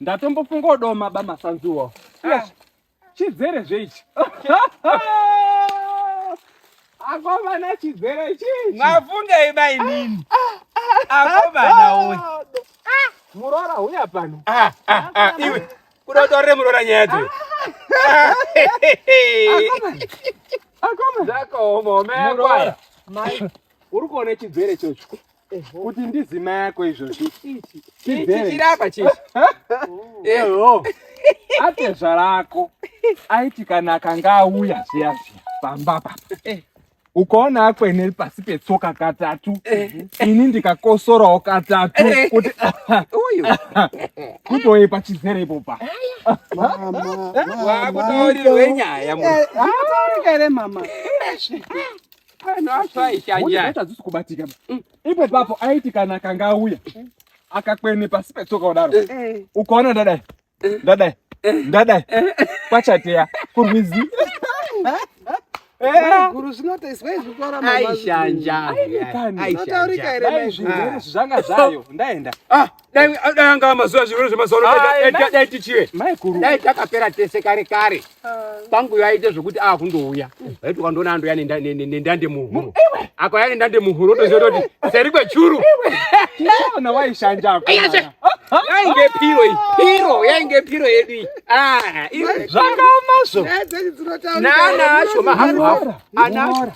ndatombofunga odoma ba masanzuwo ah. chizere zveichi akomana chizere chii mavungei ba inini akomana uyu murora huya pano ah, ah, iwe kuda utorere murora nyaya dzewe zvakaoma umeakwaya uri kuona chizere chocho kuti ndizima yako izvozvi chirapa chii eho atezva rako aiti kana akanga auya zviya zviya pamba papa eh. ukaona akwene pasi petsoka katatu eh. ini ndikakosorawo katatu eh. kuti kutoye pachizere ipopa wakutaurirwe nyaya mutaurika here mama Vanhu afa aishanja. Tadzisi kubatika. Mm. Ipo papo aiti kana akanga auya mm. akakwene pasi petsoka kudaro. Eh, eh. Ukaona ndadai. Eh. Ndadai. Ndadai. Kwachateya kurwizi. Guru zvinotaiswa izvi kutaura mama. Aishanja. Aishanja. Zvanga zvayo. Ndaenda. Ah. dai dai anga amazuva zvirwere zvemazuva ano dai tichive dai takapera tese kare kare pangu yaite zvekuti a kundouya vaiti ukandoona andoya nendande muhuro akauya nendande muhuro otoziva toti seri kwechuru ona waishanjako yainge piro iyi piro yainge piro yedu iyi zvakaomazvo nana acho mahafu hafu anacho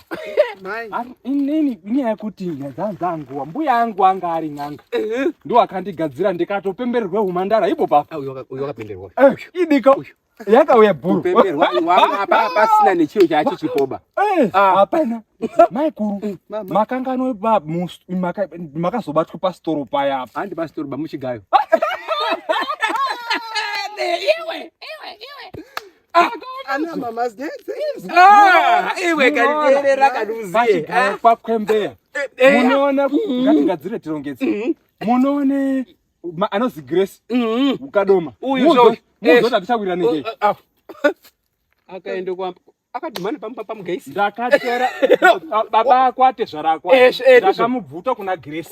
inini nyaya yekuti nyadzanzanguwa mbuya yangu anga ari n'anga ndiwo akandigadzira ndikatopembererwa humandara ipo papa idika yakauya bhuruapasina nechiro chacho chipoba hapana maikuru makangano makazobatwa pasitoro paya apa handi pasitoro bamuchigayo iwe iwe iwe Ah, ana mama zdense ah, iwe kanirera kanuzie ah. kwa kwembeya eh, eh. munoona mm-hmm. ngatingadzire tirongetse mm-hmm. munoone anozi grace mm-hmm. ukadoma uyu zvo muzo tatichawira neke oh, oh, oh. akaenda kwa akadhumana pampa pamugaisi ndakatera baba akwate zvarakwa ndakamubvuta kuna grace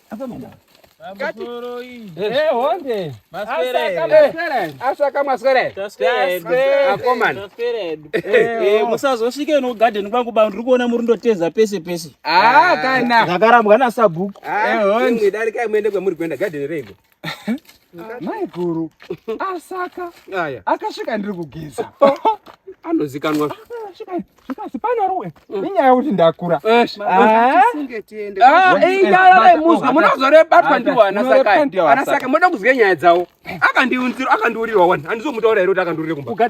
musazosvike no garden kwangu ba ndiri kuona muri ndoteza pese pese ah, ah, kana zvakarambwa nasabhuku eh, darikai muende kwemuri kuenda garden reiko maiguru asaka aya akasvika ndiri kugeza anozikanwa zvikazi panaruwe mm. inyaya yokuti ndakura muzwa munozorebatwa ndiwanasaka moda kuziva nyaya dzawo akandiunziro akandiurirwa wani handizomutaura here kuti akandiurire kumba